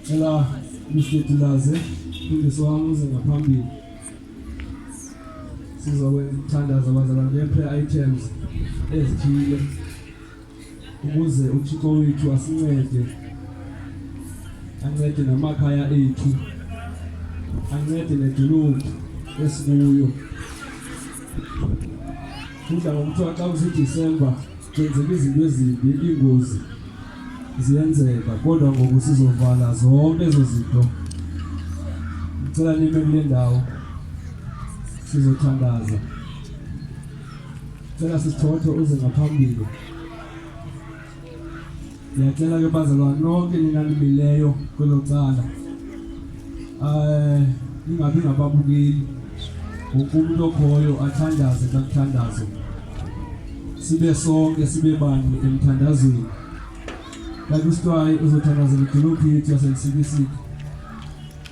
Cela umhlutulaze mfundisi wami uze ngaphambili sizokwenza ukuthandaza abazalwane nge-prayer items ezithile ukuze uthixo wethu asincede ancede namakhaya ethu ancede nedolophu esikuyo kudla ngokuthiwa xa kusidisemba Kwenzeka izinto ezimbi, ingozi ziyenzeka, kodwa ngoku sizovala zonke ezo zinto. Ngicela nime kule ndawo sizothandaza. Ngicela sisithothe uze ngaphambili. Ngiyacela ke bazalwane nonke ningalimileyo kwelo cala. Eh ningabi ngababukeli. Wonke umuntu okhoyo athandaze kakuthandazo. Sibe sonke sibe bani emthandazweni. Kanti uSitwayi uzothandazela idolophi yethu yaseNsikisiki.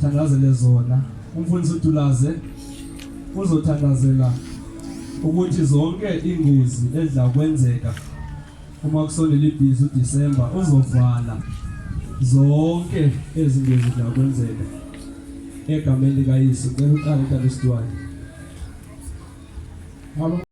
thandazele zona umfundisi uDulaze uzothandazela ukuthi zonke ingozi edla kwenzeka uma kusondela ibhizi uDisemba uzovala zonke ezingozi edla kwenzeka egameni likaYesu ngicela uqale kanti sidwani